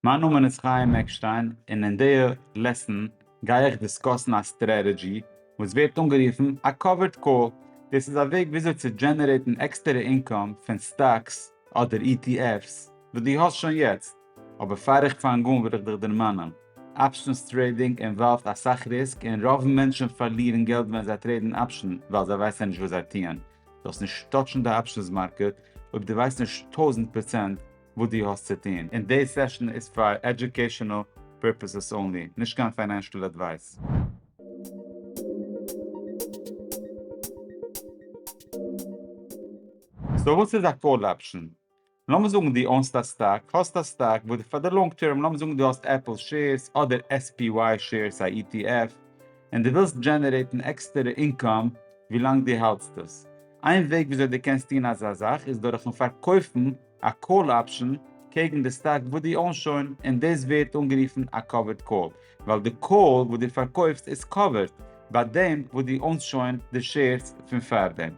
מיין נאמען איז חיים עקשטיין און אין די לעסן גיי איך דיסקאסן א סטרעטעדזשי וואס ווערט אנגערופן א קאווערד קאל, דאס איז א וועג וויאזוי צו דזשענערעיטן עקסטערע אינקאם פון סטאקס אדער ETFs וואס דו האסט שוין יעצט, אבער פאר איך פאנג אן וויל איך דיך דערמאנען, אפשענס טרעידינג אינוואלווד אסאך ריסק און רוב מענטשן פארלירן געלט ווען זיי טרעידן אפשען ווייל זיי ווייסן נישט וואס זיי טוען, זאלסט נישט טאטשן די אפשענס מארקעט אויב דו ווייסט נישט טויזנט פראצענט וואס דו האסט צו טון, און די סעשאן איז פאר עדיוקעישאנעל פירפעסעס אנלי, נישט קיין פיינענשעל עדווייס. סאו וואס איז א קאל אפשען? לאמיר זאגן דו אונסט א סטאק, האסט א סטאק וואס דו פאר די לאנג טערם, לאמיר זאגן דו האסט עפל שעירס אדער SPY שעירס א ETF, און דו ווילסט דזשענערעיטן עקסטערע אינקאם ווילאנג דו האלטסט עס. איין וועג וויאזוי דו קענסט טון אזא זאך איז דורכן פארקויפן, א קאל אפשען קעגן די סטאק וואס דו אוינס שוין און דאס ווערט אנגערופן א קאווערד קאל ווייל די קאל וואס דו פארקויפסט איז קאווערד ביי דעם וואס דו אוינס שוין די שעירס פון פארדעם.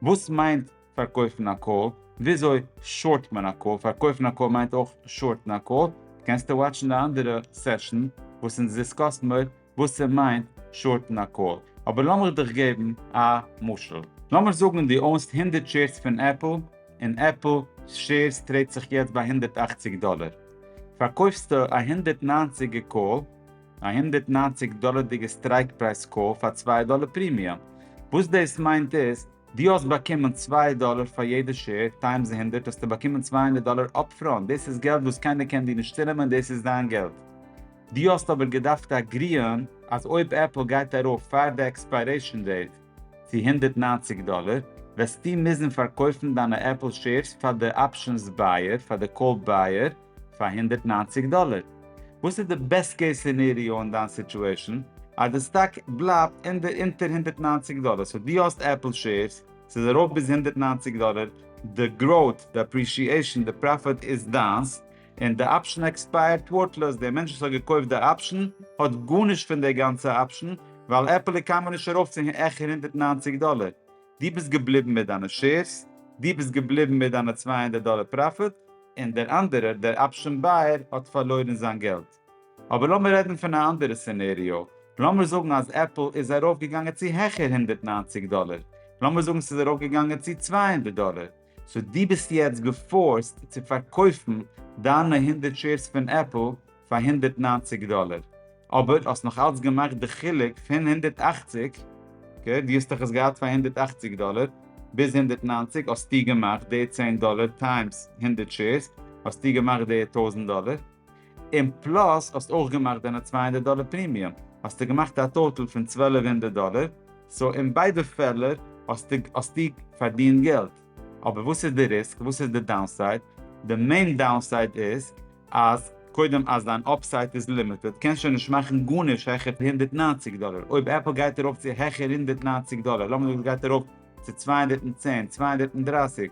וואס מיינט פארקויפן א קאל? וויאזוי שארט מען א קאל? פארקויפן א קאל מיינט אויך שארטן א קאל? קענסטו וואטשן די אנדערע סעשאן וואס אונז דיסקאסן אויב וואס ס'מיינט שארטן א קאל, אבער לאמיך דיך געבן א משל. לאמיר זאגן דו אונסט הונדערט שעירס פון עפל, און עפל שעירס טרעיד זיך יעצט ביי הונדערט אַכציק דאלער. פארקויפסטו א הונדערט נײַנציק ע קאל, א הונדערט נײַנציק דאלערדיגע סטרייק פרייז קאל פאר צוויי דאלער פרימיום. וואס דאס מיינט איז, דו האסט באקומען צוויי דאלער פאר יעדע שעיר, טיימס הונדערט האסטו באקומען צוויי הונדערט דאלער אפפראנט, דאס איז געלט וואס קיינער קען דיר נישט צונעמען, דאס איז דיין געלט. דו האסט אבער געדארפט אגריען אז אויב עפל גייט ארויף פאר די עקספיירעישן דעיט צו הונדערט נײַנציק דאלער וועסטו מוזן פארקויפן דיינע עפל שעירס פאר די אפשענס בייער פאר די קאלד בייער פאר הונדערט נײַנציק דאלער. וואס איז די בעסט קעיס סינעריאו אין דיין סיטועשן? אז די סטאק בלייבט אונדער אונטער הונדערט נײַנציק דאלער סאו דו האסט עפל שעירס ס'איז ארויף ביז הונדערט נײַנציק דאלער די גראוט די אפרישיעישן די פראפיט איז דיינס און די אפשן עקספייערט ווארטלעס, דער מענטש וואס האט געקויפט די אפשן האט גארנישט פון די גאנצע אפשן, ווייל עפעלע קאן מען נישט ארויף צו העכער הונדערט נײַנציק דאלער, דו ביסט געבליבן מיט דיינע שעירס, דו ביסט געבליבן מיט דיינע צוויי הונדערט דאלער פראפיט, און דער אנדערער, דער אפשן בייער, האט פארלוירן זיין געלט. אבער לאמיר רעדן פון א אנדערע סינעריאו, לאמיר זאגן אז עפל איז ארויף געגאנגען צו העכער הונדערט נײַנציק דאלער, לאמיר זאגן ס'איז ארויף געגאנגען צו צוויי הונדערט דאלער, סאו דו ביסט יעצט געפארסט צו פארקויפן דיינע הונדערט שעירס פון עפל פאר הונדערט נײַנציק דאלער, אבער האסט נאך אלץ געמאכט די חילוק פון הונדערט אַכציק, אקעי דו האסט דאך עס געהאט פאר הונדערט אַכציק דאלער ביז הונדערט נײַנציק האסטו געמאכט די צען דאלער טיימס הונדערט שעירס האסטו געמאכט די טויזנט דאלער, און פלאס האסט אויך געמאכט דיינע צוויי הונדערט דאלער פרימיום, האסטו געמאכט א טאטעל פון צוועלף הונדערט דאלער, סאו אין ביידע פעלער האסטו האסטו פארדינט געלט, אבער וואס איז די ריסק? וואס איז די דאונסייד? די מעין דאונסייד איז אז קודם אז דיין אפסייט איז לימיטעד, קענסט שוין נישט מאכן גארנישט העכער די הונדערט נײַנציק דאלער, אויב עפל גייט ארויף צו העכער הונדערט נײַנציק דאלער, לאמיר זאגן עס גייט ארויף צו צוויי הונדערט צען, צוויי הונדערט דרײַסיק,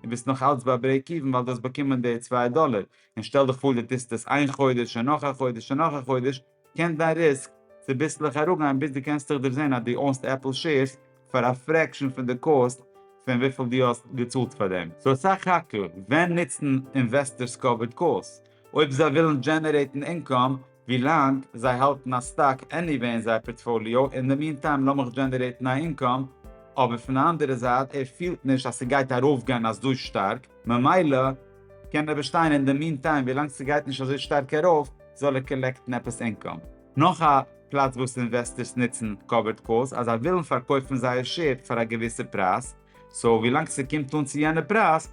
און ביסט נאך אלץ ביי ברעיק איווען ווייל דו האסט באקומען די צוויי דאלער, און שטעל דיך פאר דו טוסט עס איין חודש און נאך א חודש און נאך א חודש, קען דיין ריסק צוביסלעך אראפגיין ביז דו קענסט דיך דערזעהן אז דו אונסט עפל שעירס פאר א פרעקשאן פון די קאסט פון וויפיל דו האסט געצאלט פאר דעם. סאו סך הכל, ווען נוצן אינוועסטערס קאווערד קאלס? אויב זיי ווילן דזשענערעיטן אינקאם, ווילאנג זיי האלטן א סטאק עניוועי אין זייער פארטפאליאו, אין די מין טיים לאמיך דזשענערעיטן א אינקאם, אבער פון די אנדערע זייט ער פילט נישט אז ס'גייט ארויפגיין אזוי שטארק, ממילא קען ער באשטיין אין די מין טיים ווילאנג ס'גייט נישט אזוי שטארק ארויף זאל ער קאלעקטן עפעס אינקאם. נאך א פלאץ וואס אינוועסטערס נוצן קאווערד קאלס אז זיי ווילן פארקויפן זייער שעיר פאר א געוויסע פרייז, סאו ווילאנג ס'קומט אן צו יענע פרייז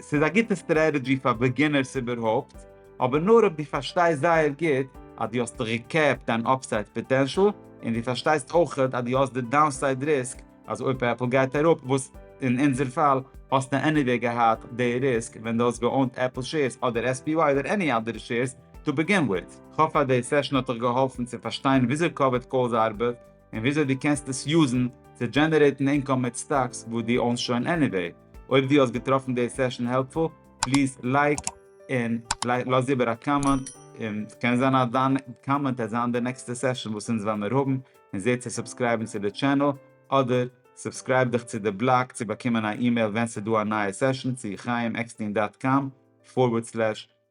ס'איז א גוטע סטרעטעדזשי פאר בעגינערס איבערהויפט, אבער נאר אויב דו פארשטייסט זייער גוט אז דו האסט ריקעפט דיין אפסייד פאטענשל, און דו פארשטייסט אויך אז דו האסט די דאונסייד ריסק אז אויב עפל גייט אראפ, וואס אין אונזער פאל האסטו עניוועי געהאט די ריסק ווען דו האסט געאונט עפל שעירס אדער SPY אדער עני אדערע שעירס טו בעגין וויט. כ'האף אז די סעשאן האט דיך געהאלפן צו פארשטיין וויאזוי קאווערד קאלס ארבעט און וויאזוי דו קענסט עס יוזן צו דזשענערעיטן אינקאם מיט סטאקס וואס דו אונסט שוין עניוועי. אויב דו האסט געטראפן די סעשאן העלפפול, פליז לייק און לאז איבער א קאמענט, און ס'קען זיין אז דיין קאמענט וועט זיין די נעקסטע סעשאן וואס אונז וועלמיר האבן, און זע צו סובסקרייבן צו די טשענעל, אדער סובסקרייב דיך צו די בלאג צו באקומען א אימעיל ווען ס'דא א נייע סעשאן, צו חיים עקסטין דאט קאם פארווערד סלעש